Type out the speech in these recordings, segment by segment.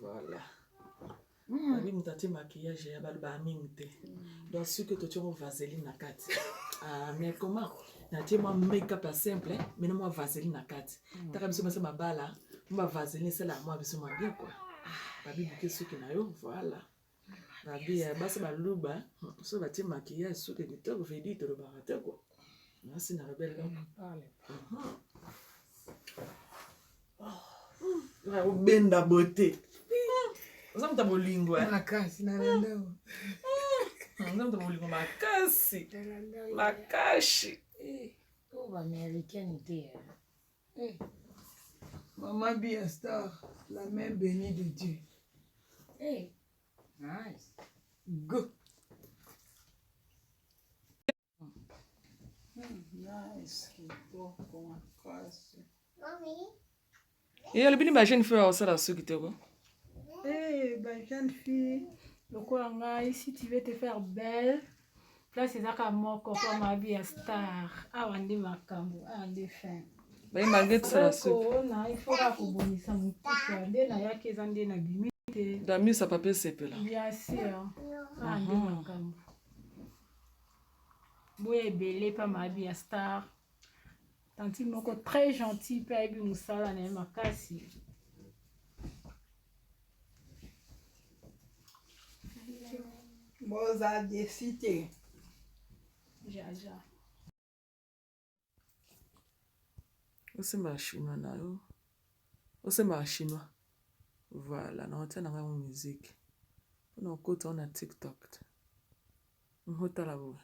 Voilà. Mm. Abi moto atie maquillage ya bato ba mingi te. Mm. Donc soki totie mwa vaseline na kati. Ah mais comment natie mwa make-up ya simple mais na mwa vaseline na kati. Mm. Taka biso basi mabala mwa vaseline esala mwa biso mwa bien quoi. Ah. Babi buke suki na yo voilà. Babi ya basi baluba so batie maquillage suki kitoko vedi tolobaka te ko nasi na rebele obenda bote oza moto ya bolingo eh? makasi na landao oza moto ya bolingo makasi makasi eh, oyo baamericaine te eh. Maman Bia Star, la main bénie de Dieu. Hey, nice. Go. ye alobi ni bajeune fille akosala suki te ko eh, bajeune fille lokola ngai si tu veux te faire belle place eza kaka moko po mabi ya star awa nde makambo awa nde fin baye malgre tosala suona ifoka kobongisa motuka nde nayaki eza nde na bimi te damisa pape sepela bien sûr awa nde makambo boya ebele pa mabi ya star Tantine moko très gentil mpe ayebi mosala na ye makasi. Boza desi te. Jaja. Osemba chinois na yo. Osemba chinois. Voilà, na otia na ngai musique. Mpo na okota na TikTok. Botala boye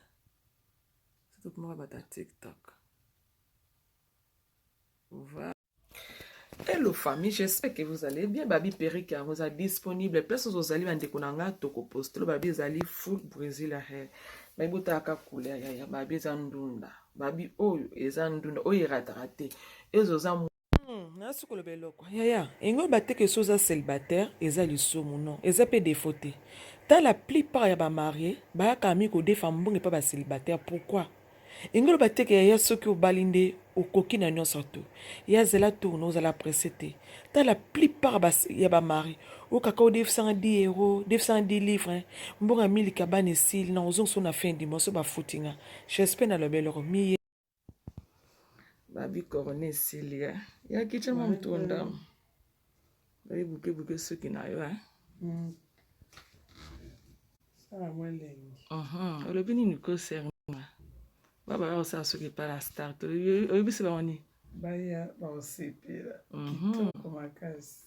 soki komaka bato ya tiktok voilà Hello famille, j'espère que vous allez bien. Babi Peric yango eza disponible. Place ozo zali bandeko na nga toko postolo babi ezali full Brésil hair. Babi botaka couleur ya ya babi eza ndunda. Babi oyo eza ndunda oyo erataka te. Ezo za Hmm, nasi koloba eloko yaya engo bateke so oza célibataire eza lisumu non eza mpe défaut te ta la plupart ya bamarie bayaka mi kodefa mbongo epa bacélibataire pourquoi engo oloba teke yaya soki obali nde okoki na nyonso to ya zela tourne ozala presse te ta la plupart ya bamarie okaka odefisanga 10 euro defisanga 10 livre mbongo ya miliki abana esili na ozongiso na fin du mois so bafutinga chespe naloba eloko miye Babi corona esili eh. ya kicha mwa moto ndam babi buke buke soki na yo eh. Mm. Sala mwa elengi. Uh-huh. Olobi nini ko serma? Baba ya kosala soki epai na star to oyebisi bango nini? Baya bakosepela mhm. kitoko makasi.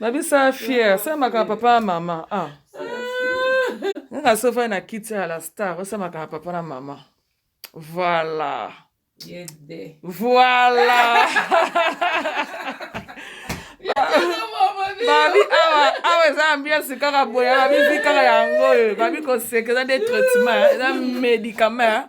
babisa fier samaka papa mama ah. nga sofai na kiti ya la star osamaka na papa na mama voilà voilà babi awa awa eza ambiance kaka boye babizi kaka yango oyo babi koseka eza nde traitement eza médicament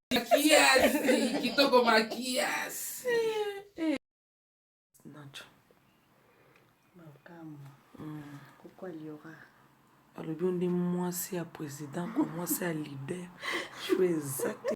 makiasi kitoko makiasi nacho makambo koko aliora alobi yo nde mwasi ya président kwa mwasi ya leader jue exacte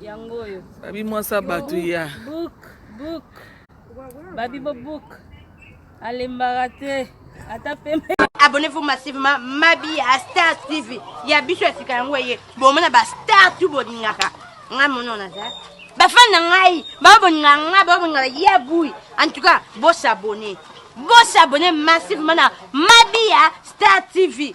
yango oyo babi mwasi ya bato ya book book babi bo book alembaka te ata pembe abonnez-vous massivement mabi ya star tv ya biso ya sika yango eye bomona ba star tu bolingaka ngai mono naza bafani na ngai baboninga ngai baboninga ya bui en tout cas bosabone bosabone massivement na mabiya star tv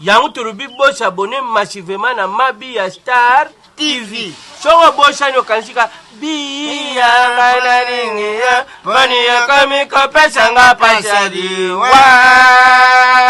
Yango tolobi bo s'abonner massivement na Mabi ya Star TV. Soki obosani okanisi ka biya nga nalingi ye, boni ekomi kopesa nga pasi ya liwa.